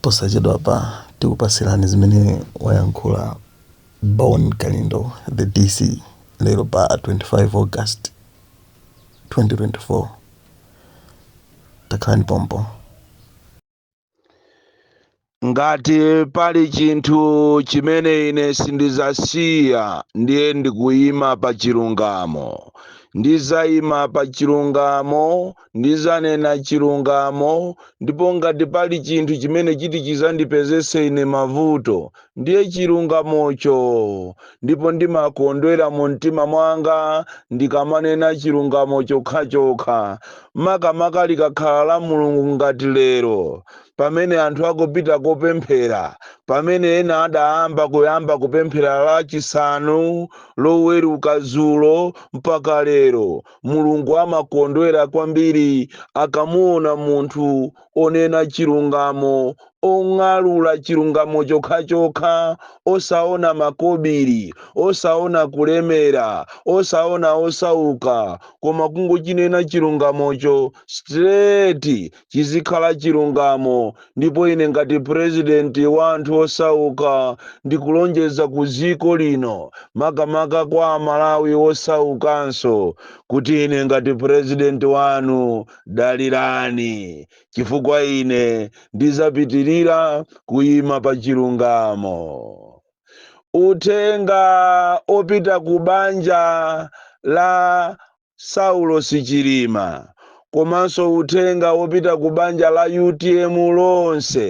Posachedwapa tikupasirani zimene wayankhula Bon Kalindo, the DC, lero pa 25 August 2024. Takhalani pompo. Ngati pali chinthu chimene ine sindizasiya ndiye ndikuyima pa chilungamo. Ndizayima pa chilungamo Ndidzanena chilungamo, ndipo ngati pali chinthu chimene chiti chidzandipezetse ine mavuto, ndiye chilungamocho. Ndipo ndimakondwera mu mtima mwanga ndikamanena chilungamo chokhachokha, makamaka likakhala la Mulungu ngati lero, pamene anthu akupita kopemphera, pamene ena adayamba kuyamba kupemphera Lachisanu, Loweruka dzulo, mpaka lero. Mulungu amakondwera kwambiri akamuona munthu onena chilungamo, ong'alula chilungamo chokhachokha, osaona makobiri, osaona kulemera, osaona osauka, koma kungochinena chilungamocho straight chizikhala chilungamo ndipo ine ngati president wa anthu osauka ndikulonjeza ku ziko lino makamaka kwa amalawi osaukanso kuti ine ngati president wanu dalirani chifukwa ine ndizapitirira kuyima pa chilungamo uthenga opita ku banja la Saulosi Chilima komanso uthenga wopita ku banja la utm lonse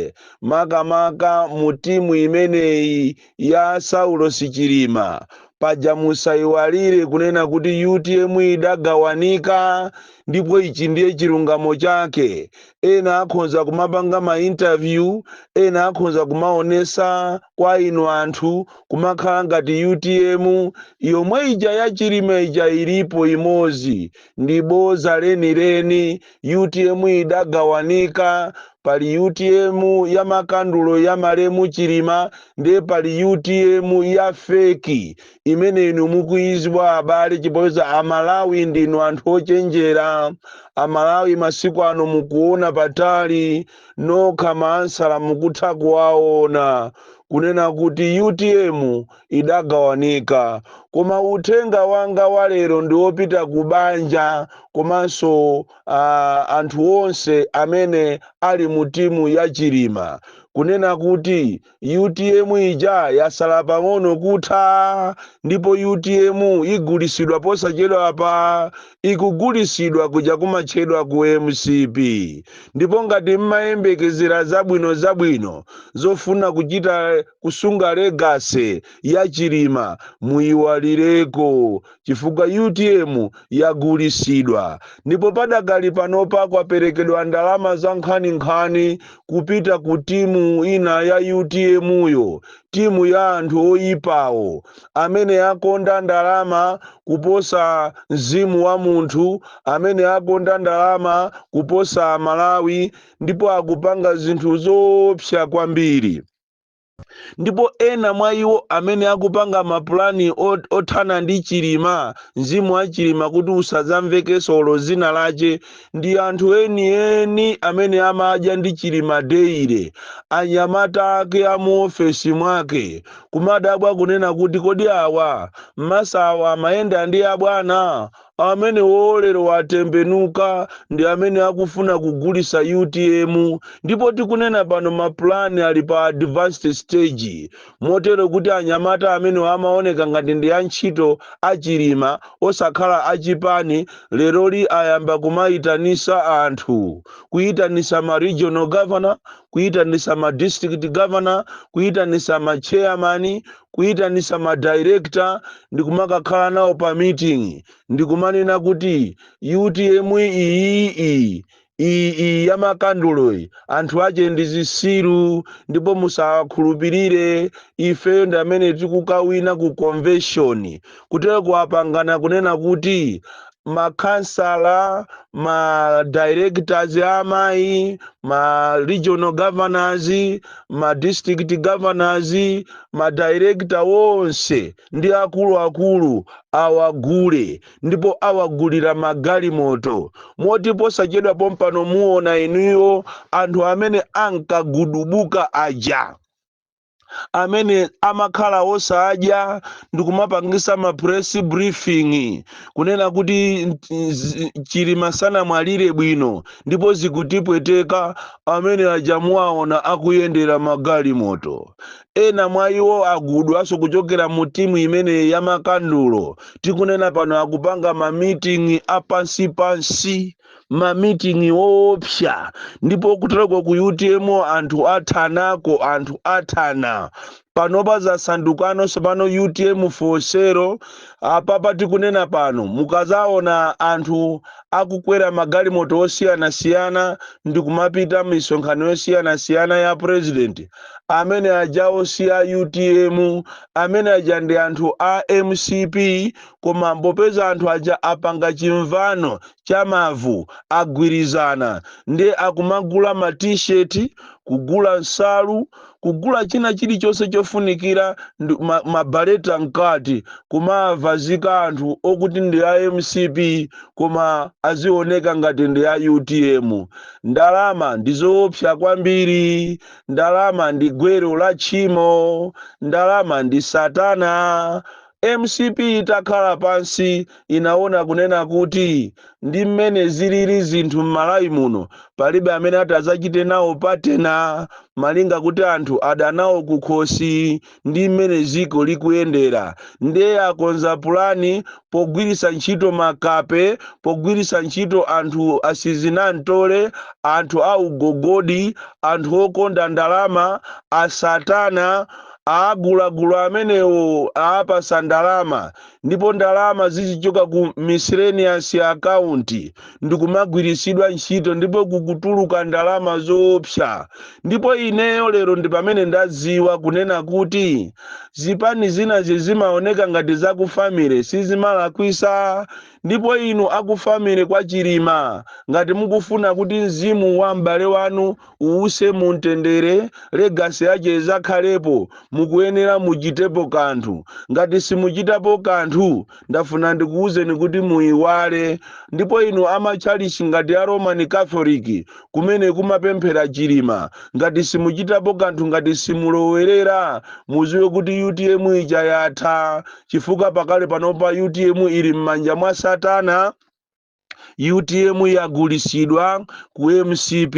makamaka mu team imeneyi ya Saulosi Chilima paja musaiwalire kunena kuti utm idagawanika ndipo ichi ndiye chilungamo chake ena akhonza kumapanga ma interview ena akhonza kumaonesa kwa inu anthu kumakhala ngati utm yomwe ija ya chilima ija ilipo imozi ndi boza lenileni utm idagawanika pali utm ya makandulo ya malemu chilima ndiye pali utm ya feki imene inu mukuidziwa abale chifukwa amalawi ndinu anthu ochenjera amalawi masiku ano mukuona patali nokha maansala mukutha kuwaona kunena kuti utm idagawanika koma uthenga wanga wa lero ndi wopita ku banja komanso uh, anthu onse amene ali mu timu ya chilima kunena kuti utm ija yasala pang'ono kutha ndipo utm igulisidwa posachedwa apa ikugulisidwa kuja kumatchedwa ku mcp ndipo ngati mmayembekezera zabwino zabwino zofuna kuchita kusunga legacy ya chilima muyiwalireko chifukwa utm yagulisidwa ndipo padakali panopa kwaperekedwa ndalama za nkhaninkhani kupita ku timu ina ya utm yo timu ya anthu oyipawo amene akonda ndalama kuposa mzimu wa munthu amene akonda ndalama kuposa malawi ndipo akupanga zinthu zoopsa kwambiri ndipo ena mwa iwo amene akupanga mapulani othana ndi chilima mzimu wa chilima kuti usadzamvekenso olo zina lache ndi anthu enieni amene amadya ndi chilima daily anyamata ake amuofesi mwake kumadabwa kunena kuti kodi awa mmasawa amayenda ndi abwana Amenewo lero atembenuka ndi amene akufuna kugulisa utm ndipo tikunena pano mapulani ali pa advanced stage motero kuti anyamata amenewa amaoneka ngati ndi a ntchito a chilima osakhala a chipani leroli ayamba kumaitanisa anthu kuitanisa ma regional governor kuitanisa ma district governor kuitanisa ma chairman kuyitanisa ma director ndikumakakhala nawo pa meeting ndikumanena kuti utm iyi iyi iyi iyi ya makanduloyi anthu ache ndi zisiru ndipo musakhulupirire ife ndi amene tikukawina ku convention kuteroku apangana kunena kuti makhansala ma directors a amayi ma regional governors ma district governors ma director wonse ndi akuluakulu awagule ndipo awagulira magalimoto moti posachedwa pompano muona inuyo anthu amene ankagudubuka aja amene amakhala osadya ndikumapangisa ma press briefing kunena kuti chilima sanamwalire bwino ndipo zikutipweteka amene aja muwaona akuyendera magalimoto ena mwa iwo agudwaso kuchokera mu timu imene ya makandulo tikunena pano akupanga ma meeting apansi pansi mamiting'i woopsa ndipo kuteroko ku utm anthu athanako anthu athana panopa zasandukano sopano utm fosero apapa tikunena pano mukazaona anthu akukwera magalimoto osiyanasiyana ndikumapita misonkhano yosiyanasiyana ya president amene ajawo si a utm amene aja ndi anthu a mcp Koma popeza anthu aja apanga chimvano cha mavu, agwirizana, nde akumagula ma t-shirt, kugula nsalu, kugula china chilichonse chofunikira ma beret mkati kumawavazika anthu okuti ndi a mcp koma azioneka ngati ndi a utm. Ndalama ndizoopsa kwambiri. Ndalama ndi gwero la tchimo. Ndalama ndi satana. Mcp itakhala pansi inaona kunena kuti ndi mmene ziliri zinthu mmalawi muno palibe amene ati azachite nawo partner malinga kuti anthu adana nawo kukhosi ndi mmene ziko likuyendera nde akonza pulani pogwirisa ntchito makape pogwirisa ntchito anthu asizinamtole anthu augogodi anthu okonda ndalama asatana Awagulagula amenewo awapasa ndalama ndipo ndalama zikuchoka ku miscellaneous account ndikumagwirisidwa ntchito ndipo kukutuluka ndalama zoopsa ndipo ineyo lero ndi pamene ndaziwa kunena kuti zipani zinazi zimaoneka ngati zakufamily sizimalakwisa ndipo inu akufamily kwa Chilima ngati mukufuna kuti mzimu wa m'bale wanu uwuse mu mtendere legasi yache izakhalepo mukuyenera muchitepo kanthu ngati simuchitapo kanthu ndafuna ndikuwuzeni kuti muyiwale ndipo inu amatchalichi ngati a roman catholic kumene kumapemphera chilima ngati simuchitapo kanthu ngati simulowerera muziwe kuti utm ija yatha chifukwa pakali panopa utm ili m'manja mwa satana utm yagulisidwa ku mcp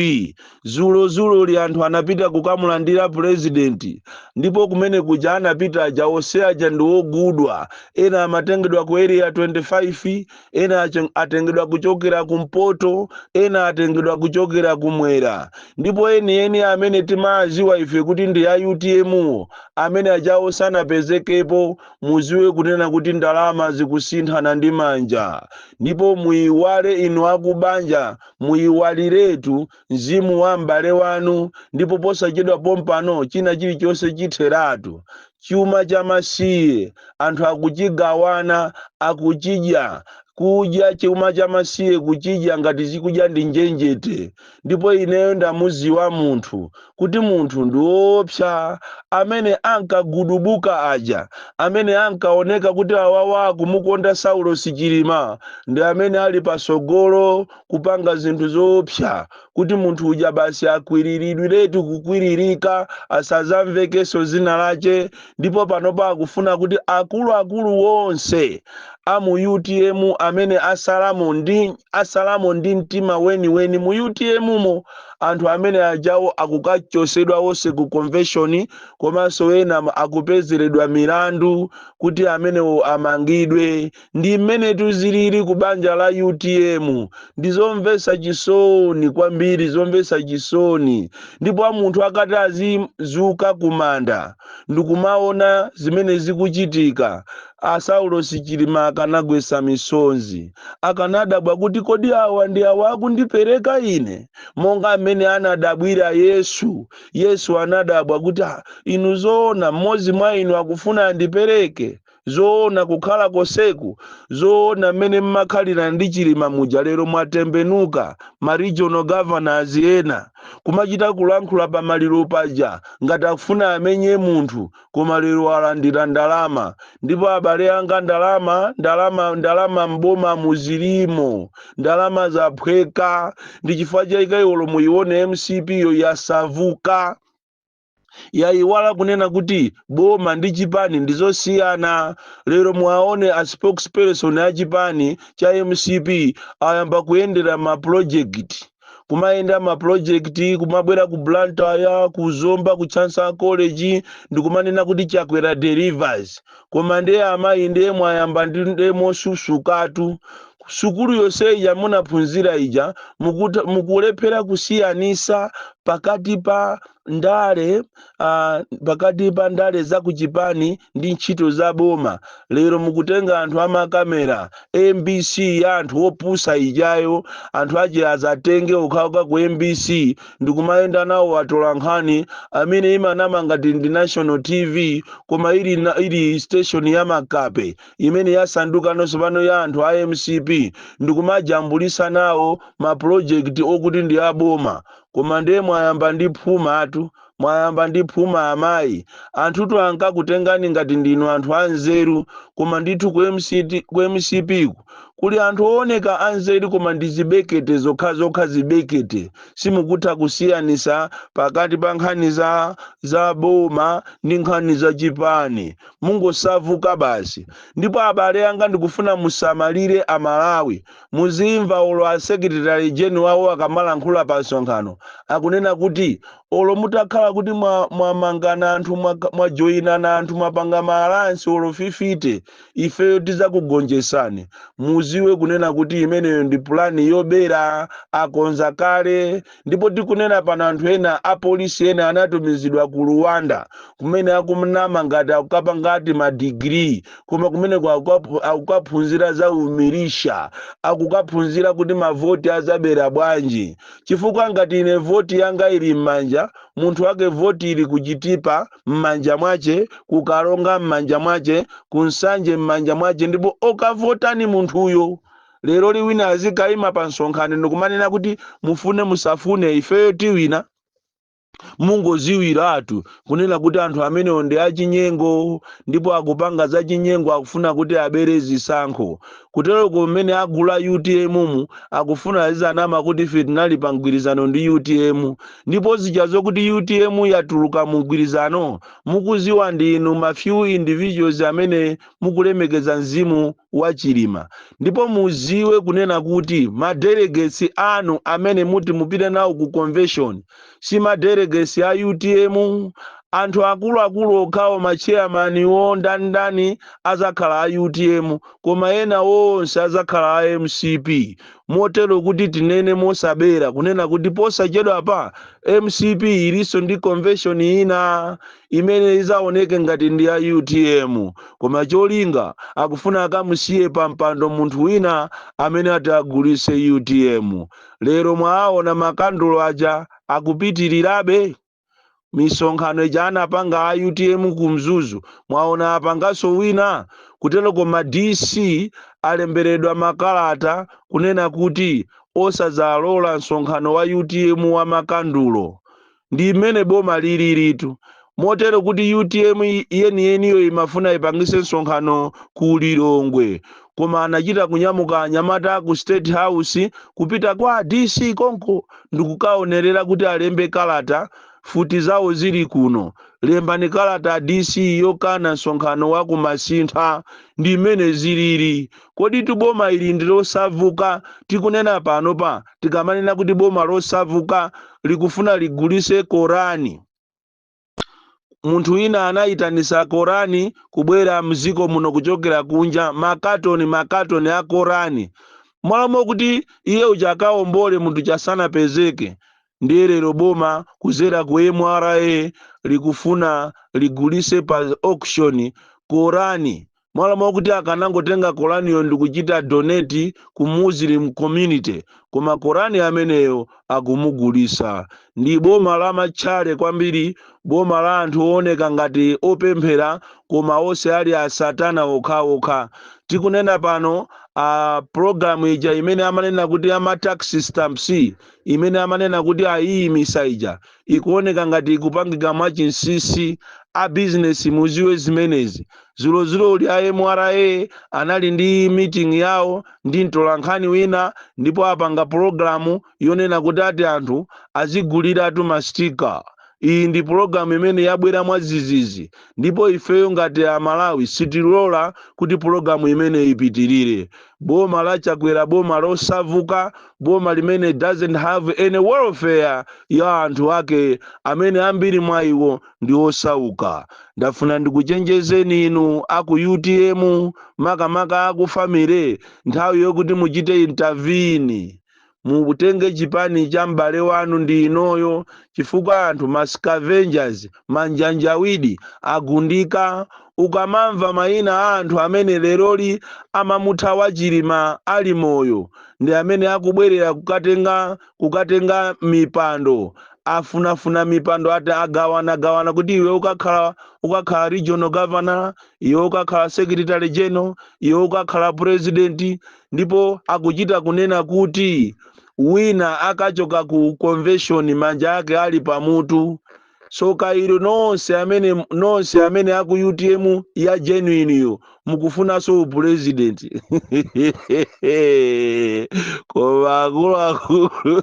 zulozulo ili anthu anapita kukamulandira purezidenti ndipo kumene kuja anapita aja onse aja ndi ogudwa ena amatengedwa ku area 25 ena atengedwa kuchokera kumpoto ena atengedwa kuchokera kumwera ndipo enieni amene timawaziwa ife kuti ndi a utm wo amene ajawo sanapezekepo muziwe kunena kuti ndalama zikusinthana ndi manja ndipo muiwale inu akubanja muiwaliretu mzimu wa m'bale wanu ndipo posachedwa pompano china chilichonse chitheratu chuma cha masiye anthu akuchigawana akuchidya kudya chuma cha masiye kuchidya ngati chikudya ndi njenjete ndipo ineyo ndamuziwa munthu kuti munthu ndiwoopsa amene ankagudubuka aja amene ankaoneka kuti awawa akumukonda saulosi chilima ndi amene ali pasogolo kupanga zinthu zoopsa kuti munthu uja basi akwiriridwiretu kukwiririka asazamvekenso zina lache ndipo panopa akufuna kuti akuluakulu wonse a mu utm amene asalamo asalamo ndi mtima weniweni mu utm mo anthu amene ajawo akukachosedwa wonse ku convention komanso ena akupezeredwa milandu kuti amenewo amangidwe Ndi mmenetu zilili ku banja la utm. Ndi zomvesa chisoni kwambiri, zomvesa chisoni. Ndipo a munthu akati azizuka ku manda ndikumaona zimene zikuchitika, a Saulos Chilima akanagwesa misonzi. Akanadabwa kuti kodi awa ndi awa akundipereka ine? Monga mmene anadabwira Yesu. Yesu anadabwa kuti inu zoona mmodzi mwa inu akufuna andipereke? zoona kukhala konseku zoona mmene mmakhalira ndi chilima muja lero mwatembenuka ma regional governors ena kumachita kulankhula pa maliro paja ngati akufuna amenye munthu koma lero alandira ndalama ndipo abale anga ndalama ndalama ndalama mboma muzilimo ndalama zaphweka ndi chifukwa chaika iwolo muyione mcp yo yasavuka yayiwala kunena kuti boma ndi chipani ndizosiyana lero muwaone a spokesperson a chipani cha mcp ayamba kuyendera ma project kumayendera ma project kumabwera ku blantyre ku zomba ku chancellor college ndikumanena kuti chakwera delivers koma ndiye amayi ndiye mwayamba ndi ndiye mosusukatu sukulu yonse ija munaphunzira ija mukulephera kusiyanisa pakati pa ndale uh, pakati pa ndale za kuchipani ndi ntchito za boma lero mukutenga anthu amakamera mbc ya anthu opusa ijayo anthu ache azatenge okhaoka ku mbc ndikumayenda nawo atolankhani amene imanama ngati ndi national tv koma ili station ya makape imene yasandukano tsopano ya anthu a mcp ndikumajambulisa nawo mapulojekiti okuti ndi aboma koma ndiye mwayamba ndi phumatu mwayamba ndi phuma amayi anthutu ankakutengani ngati ndinu anthu anzeru koma ndithu ku mcp ku kuli anthu owoneka anzeru koma ndi zibekete zokhazokha zibekete simukutha kusiyanisa pakati pa nkhani za boma ndi nkhani za chipani mungosavuka basi ndipo abale anga ndikufuna musamalire amalawi muzimva olo a secretary general wawo akamalankhula pa msonkhano akunena kuti olo mutakhala kuti mwamangana anthu mwajoyinana anthu mwapanga maalansi olo fifite ifeyo tizakugonjesani muziwe kunena kuti imeneyo ndi pulani yobera akonza kale ndipo tikunena pano anthu ena apolisi ena anatumizidwa ku rwanda kumene akumnama ngati akukapanga ti madigiri koma kumeneko akukaphunzira za umilisha akukaphunzira kuti mavoti azabera bwanji chifukwa ngati ine voti yanga ili m'manja munthu wake voti ili kuchitipa m'manja mwace, ku Karonga m'manja mwace, ku Nsanje m'manja mwace ndipo okavotani munthuyo. Lero lino wina azikaima pa msonkhano ndikumanena kuti mufune musafune ifeyo tiwina? Mungoziwiratu kunena kuti anthu amenewo ndi achinyengo ndipo akupanga zachinyengo akufuna kuti abere zisankho. Kuteroko mmene agula utm mu akufuna azizanama kuti ife tinali pa mgwirizano ndi utm. Ndipo zija zokuti utm yatuluka mu mgwirizano mukuziwa ndinu ma few individuals amene mukulemekeza mzimu wa Chilima. Ndipo muziwe kunena kuti ma delegates anu amene muti mupite nawo ku convention si ma delegates a utm. Anthu akuluakulu okhawo ma chairman wo ndani ndani azakhala a utm koma ena onse azakhala a mcp. motero kuti tinene mosabera kunena kuti posachedwapa mcp ilinso ndi convention ina imene izaoneke ngati ndi ya utm koma cholinga akufuna akamusiye pa mpando munthu wina amene ati agulise utm lero mwaona makandulo aja akupitirirabe misonkhano ija anapanga a utm ku mzuzu mwaona apanganso wina kuteroko ma dc alemberedwa makalata kunena kuti osadzalola msonkhano wa utm wa makandulo ndi mmene boma lililitu motero kuti utm yeniyeniyo imafuna ipangise msonkhano ku lilongwe koma anachita kunyamuka anyamata aku state house kupita kwa a dc konko ndikukaonerera kuti alembe kalata futi zawo zili kuno lembani kalata a dc yokana msonkhano wa kumasintha ndi mmene zilili kodi ti boma ili ndi lozavuka tikunena panopa tikamanena kuti boma lozavuka likufuna ligulise korani munthu wina anayitanisa korani kubwera mziko muno kuchokera kunja makatoni makatoni a korani mmalo mokuti iye uja akaombole munthu uja sanapezeke ndiye lero boma kuzera ku mra likufuna ligulise pa auction korani mmalo mwakuti akanangotenga koraniyo ndikuchita donate ku muslim community koma korani ameneyo akumugulisa ndi boma la matchale kwambiri boma la anthu ooneka ngati opemphera koma onse ali asatana okhaokha tikunena panopa program ija imene amanena kuti ama tax stamps imene amanena kuti ayiyimisa ija ikuoneka ngati ikupangika mwa chinsisi a business muziwe zimenezi dzulodzuloli a mra anali ndi meeting yawo ndi mtolankhani wina ndipo apanga pulogalamu yonena kuti ati anthu aziguliratu mastika iyi ndi pulogalamu imene yabwera mwadzidzidzi ndipo ifeyo ngati amalawi sitilola kuti pulogalamu imeneyi ipitirire boma la chakwera boma lozavuka boma limene doesn't have any welfare ya anthu ake amene ambiri mwa iwo ndi osauka ndafuna ndikuchenjezeni inu aku utm makamaka aku family nthawi yokuti muchite intervene mutenge chipani cha m'bale wanu ndi inoyo chifukwa anthu ma scavengers manjanjawidi agundika ukamamva mayina a anthu amene leroli amamuthawa chilima ali moyo ndi amene akubwerera kukatenga mipando afunafuna mipando ati agawanagawana kuti iwe ukakhala regional governor iwe ukakhala secretary general iwe ukakhala president ndipo akuchita kunena kuti wina akachoka ku convention manja ake ali pamutu tsoka ilo nonse amene nonse amene aku utm ya genuine yo mukufunanso upresident koma akuluakulu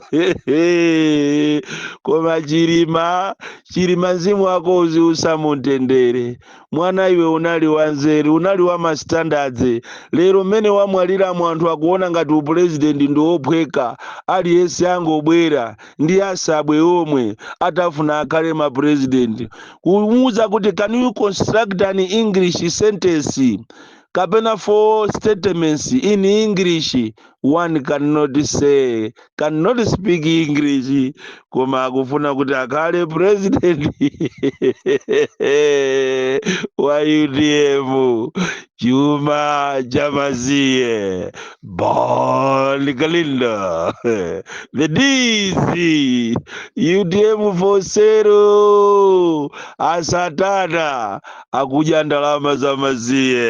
koma chilima chilima mzimu wako uziusa mumtendere mwana iwe unali wanzeru unali wa mastandards lero mmene wamwaliramo anthu akuona ngati upulezidenti ndi wophweka aliyense angobwera ndi asabwe omwe akufuna akhale mapurezidenti kumuuza kuti can you construct an english sentence kapena four statements in english one cannot speak english koma akufuna kuti akhale president wa utm chuma cha amasiye bon kalindo the dc utm for sale asatana akudya ndalama za amasiye